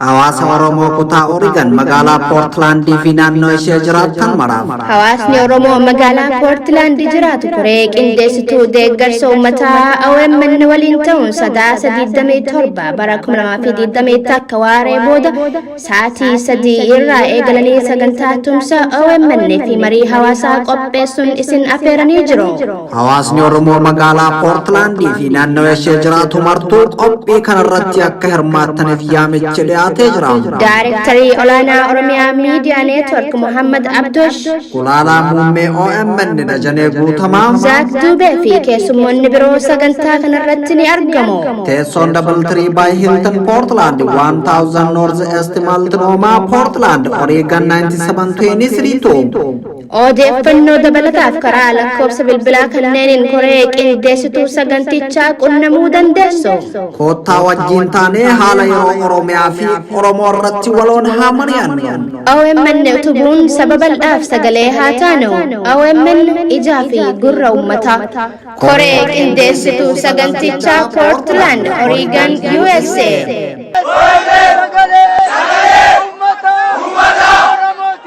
Hawaasa Oromoo kutaa Oregon magaalaa Portland fi naannoo ishee jiraattan maraaf. Hawaasni Oromoo magaalaa Portland jiraatu koree qindeessituu deeggarsa uummataa OMN waliin ta'uun sadaasa 27 bara 2020 akka waaree booda sa'aatii 3 irraa eegalanii sagantaa tumsa OMN fi marii hawaasaa qopheessuun isin afeeranii jiru. Hawaasni Oromoo magaalaa Poortilaandii fi naannawa ishee jiraatu martuu qophii kanarratti akka hirmaattaniif yaamichi dhiyaatee jira. Daarektarii olaanaa Oromiyaa Miidiyaa Neetwork Muhammad Abdosh, Gulaalaa muummee OMN Dajanee Guutamaa. Zaak Duubee fi keessummoonni biroo sagantaa kanarratti ni argamu. Teessoon Double Tree by Hilton Portland 1000 North East Multnomah Portland Oregon 97232 Odeeffannoo dabalataaf karaa lakkoofsa bilbilaa kanneeniin koree qindeessituu sagantichaa qunnamuu dandeessu. Koottaa wajjiin taanee haala yeroo Oromiyaa fi Oromoo irratti waloon haa mari'annu. OMN utubuun saba bal'aaf sagalee haa taanu. OMN ijaa fi gurra uummataa. Koree qindeessituu sagantichaa Portland, Oregon, USA. Sagalee! Sagalee! Uummataa! Uummataa!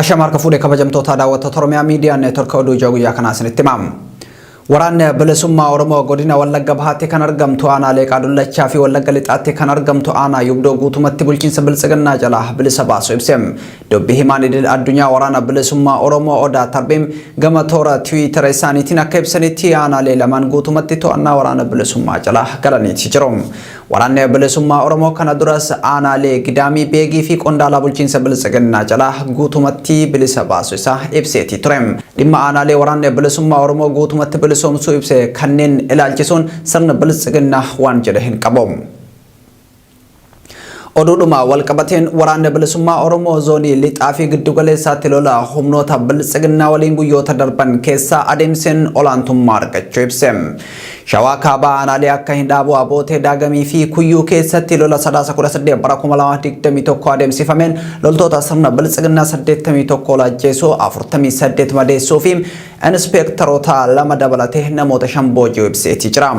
Ashamaa harka fuudhee kabajamtoota daawwattoota Oromiyaa Miidiyaa Neetwork oduu ijoo guyyaa kanaa isinitti himaam. Waraanni bilisummaa Oromoo godina Wallagga Bahaatti kan argamtu aanaa Leeqaa Dullachaa fi Wallagga Lixaatti kan argamtu aanaa Yubdoo guutumatti bulchiinsa Biltsiginnaa jalaa bilisa baasu ibse. Dubbi himaan idil addunyaa waraana bilisummaa Oromoo Odaa Tarbiim gama toora tiwiitara isaaniitiin akka ibsanitti aanaalee lamaan guutumatti to'annaa waraana bilisummaa jala galaniiti jiru. Waraanni bilisummaa Oromoo kana duras aanaalee Gidaamii Beegii fi qondaalaa bulchiinsa biltsiginnaa jala guutumatti bilisa baasu isaa ibseetii ture. Dhimma aanaalee waraanni bilisummaa Oromoo guutumatti bilisoomsuu ibse kanneen ilaalchisuun sirni biltsiginnaa waan jedhe hin qabu. Oduudhuma walqabateen waraanni bilisummaa Oromoo zoonii lixaa fi giddugaleessaatti lola humnoota biltsiginnaa waliin guyyoota darban keessaa adeemseen olaantummaa argachuu ibse. Shawaa kaabaa aanaalee akka Hindhaaboo Abootee Daagamii fi Kuyyuu keessatti lola sadaasa 18 bara 2021 adeemsifameen loltoota sirna biltsiginnaa 81 ol ajjeesuu 48 madeessuu fi Inispeektaroota lama dabalatee namoota shan booji'uu ibseetii jira.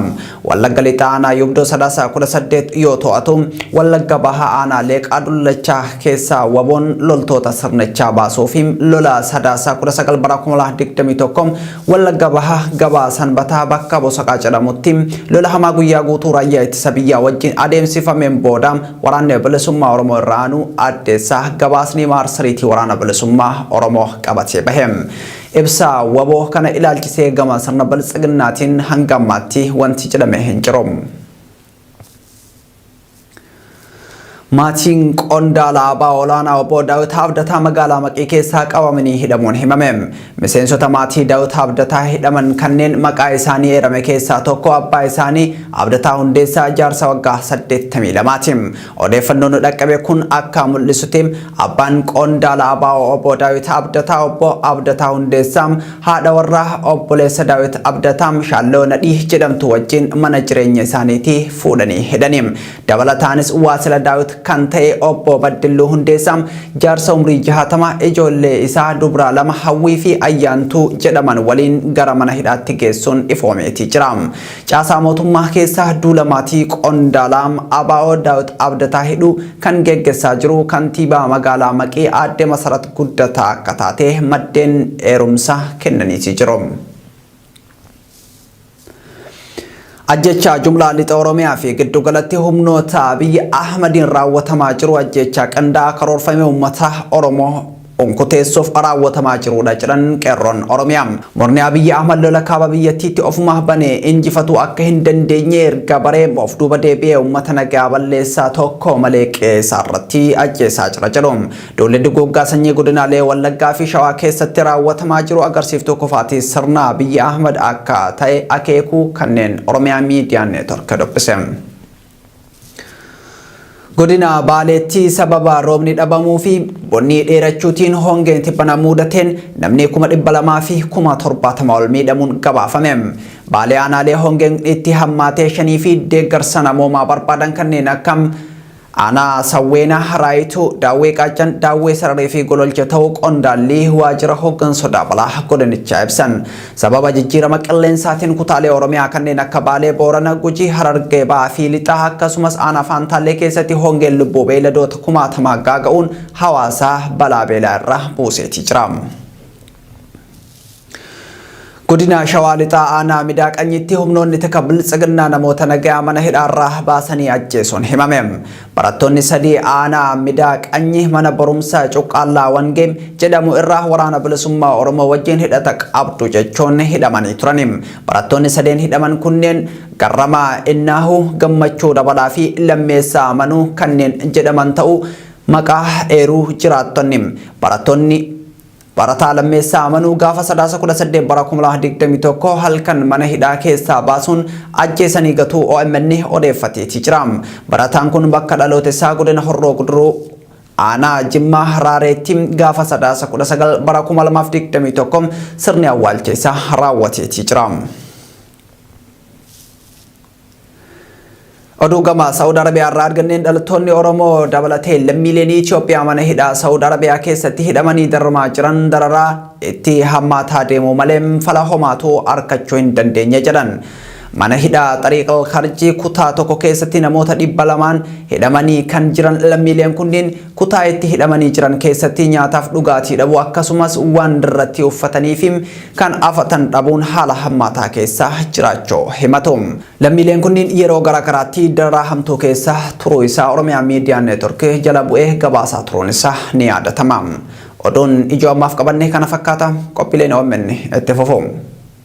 Wallagga Lixaa Aanaa Yubdoo Sadaasa 18 yoo to'atu, Wallagga Bahaa Aanaa Leeqaa Dullachaa keessaa waboon loltoota sirnichaa baasuu fi lola Sadaasa 19 bara 2021 Wallagga Bahaa gabaa Sanbataa bakka Bosaqaa jedhamutti lola hamaa guyyaa guutuu raayyaa ittisa biyyaa wajjin adeemsifameen booda Waraanni Bilisummaa Oromoo irra aanuu addeessaa gabaasni maarsariitii Waraana Bilisummaa Oromoo qabatee bahe. Ibsa wbo kana ilaalchisee gama sirna Biltsiginnaatiin hanga ammaatti wanti jedhame hin jiru. Maatiin qondaala abaa olaanaa obbo Daawit Abdataa magaalaa Maqii keessaa qabamanii hidhamuun himame. Miseensota maatii Daawit Abdataa hidhaman kanneen maqaa isaanii eerame keessaa tokko abbaa isaanii Abdataa Hundeessaa jaarsa waggaa 82ti. Odeeffannoon nu dhaqqabe kun akka mul'isutti abbaan qondaala abo Obbo Daawit Abdataa Obbo Abdataa Hundeessaa haadha warraa obboleessa Daawit Abdataa Shaalloo Nadhii jedhamtu wajjin mana jireenya isaaniitii fuudhanii hidhani. Dabalataanis waasila Daawit kan ta'e Obbo Baddilluu Hundeessaa jaarsa umrii jahatama ijoollee isaa dubraa lama Hawwii fi Ayyaantuu jedhaman waliin gara mana hidhaatti geessuun ifoomeetii jira. Caasaa mootummaa keessa duula maatii qondaalaa ABO Daawit Abdataa hidhuu kan geggessaa jiru kantiibaa magaalaa Maqii aadde Masarat Guddataa akka taate maddeen eerumsa kennaniitii jiru. Ajjechaa jumlaa lixa Oromiyaa fi giddugalatti humnoota Abiy Ahmadiin raawwatamaa jiru ajjechaa qindaa'aa karoorfamee uummata Oromoo unkuteessuuf raawwatamaa jiruudha jedhan Qeerroon Oromiyaa. Murni Abiyyi Ahmad lola kaaba biyyattiitti ofumaa bane injifatuu akka hin dandeenye erga baree of duuba deebi'ee uummata nagaa balleessaa tokko malee qe'ee isaarratti ajjeesaa jira jedhu. Duulli duguuggaa sanyii godinaalee Wallaggaa fi Shawaa keessatti raawwatamaa jiru agarsiiftuu kufaatii sirna Abiyyi Ahmad akka ta'e akeekuu kanneen Oromiyaa Miidiyaa Neetwork dubbise. Godina Baaleetti sababa roobni dhabamuu fi bonni dheerachuutiin hongeen tibbana muudateen namni kuma dhibba lamaa fi kuma torbaatama ol miidhamuun gabaafame. Baalee aanaalee hongeen itti hammaatee shanii fi deeggarsa namoomaa barbaadan kanneen akka aanaa Sawweena, Raayituu, Daawwee Qaaccan, Daawwee Sararii fi Gololcha ta'uu qondaallii waajjira hooggansa sodaa balaa godinichaa ibsan. Sababa jijjiirama qilleensaatiin kutaalee Oromiyaa kanneen akka Baalee, Boorana, Gujii, Harargee Bahaa fi Lixaa akkasumas aanaa Faantaallee keessatti hongeen lubbuu beeyladoota kumaatamaa gaaga'uun hawaasa balaa beelaa irra buuseetii jira. Godina Shawaa Lixaa aanaa Midaa Qanyitti humnoonni tika biltsiginnaa namoota nagayaa mana hidhaarraa baasanii ajjeesuun himame. Barattoonni sadii aanaa Midaa Qanyi mana barumsaa Cuqqaallaa Wangee jedhamu irraa Waraana Bilisummaa Oromoo wajjin hidhata qabdu jechuun hidhamanii turani. Barattoonni sadeen hidhaman kunneen Garramaa Innaahu, Gammachuu Dabalaa fi Lammeessaa Amanuu kanneen jedhaman ta'uu maqaa eeruu jiraattonni, barattoonni Barataa Lammeessaa Amanuu gaafa Sadaasa 18 bara 2021 halkan mana hidhaa keessaa baasuun ajjeesanii gatuu OMN odeeffateeti jira. Barataan kun bakka dhaloota isaa godina Horroo Guduruu aanaa Jimmaa Raareetti gaafa Sadaasa 19 bara 2021 sirni awwaalcha isaa raawwateeti jira. Oduu gama Saawud Arabiyaa irraa arganneen dhalattoonni Oromoo dabalatee lammiileen Itoophiyaa mana hidhaa Saawud Arabiyaa keessatti hidhamanii dararamaa jiran dararaa itti hammaataa deemuu malee fala homaatu arkachuu hin dandeenye jedhan. Mana hidhaa Xariiqal Karjii kutaa tokko keessatti namoota dhibba lamaan hidhamanii kan jiran lammiileen kunniin Kutaa itti hidhamanii jiran keessatti nyaataaf dhugaatii dhabuu akkasumas waan irratti uffataniifi kan afatan dhabuun haala hammaataa keessa jiraachuu himatu. Lammiileen kunniin yeroo gara garaatti dararaa hamtuu keessa turuu isaa Oromiyaa Miidiyaa Neetwork jala bu'ee gabaasaa turuun isaa ni yaadatama. Oduun ijoo ammaaf qabanne kana fakkaata. Qophiileen omn itti fufu.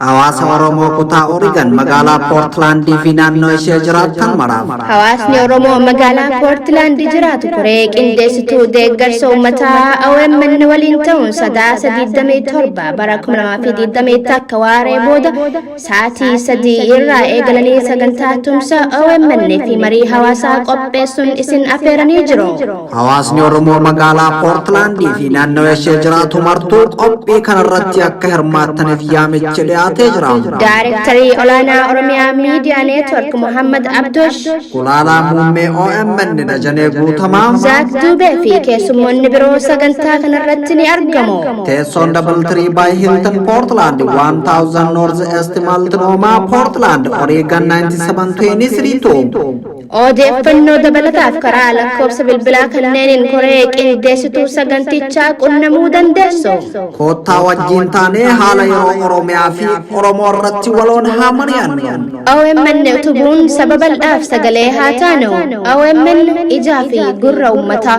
Hawaasa Oromoo kutaa Oregon magaalaa Poortilaandii fi naannoo ishee jiraatan maraaf. Hawaasni Oromoo magaalaa Poortilaandi jiraatu koree qindeessituu deeggarsa uummataa OMN waliin ta'uun sadaasa 27 bara 2020 akka waaree booda Sa'aatii sadii irraa eegalanii sagantaa tumsa OMN fi marii hawaasaa qopheessuun isin affeeranii jiru. Hawaasni Oromoo magaalaa Poortlaandii fi naannoo ishee jiraatu martuu qophii kanarratti akka hirmaattaniif yaamichi dhiyaatee jira. Daarektarii olaanaa Oromiyaa Miidiyaa Neetwork Muhammad Abdosh, Gulaalaa muummee OMN Dajanee Guutamaa. Zaak Duubee fi keessummoonni biroo sagantaa kanarratti ni argamu. Teessoon Double Tree by Hilton Portland 1000 North East Multnomah Portland Oregon 9723 Odeeffannoo dabalataaf karaa lakkoofsa bilbilaa kanneeniin koree qindeessituu sagantichaa qunnamuu dandeessu. Koottaa wajjin taanee haala yeroo Oromiyaa fi Oromoo irratti waloon haa mari'annu. OMN utubuun saba bal'aaf sagalee haa taanu. OMN ijaa fi gurra uummataa.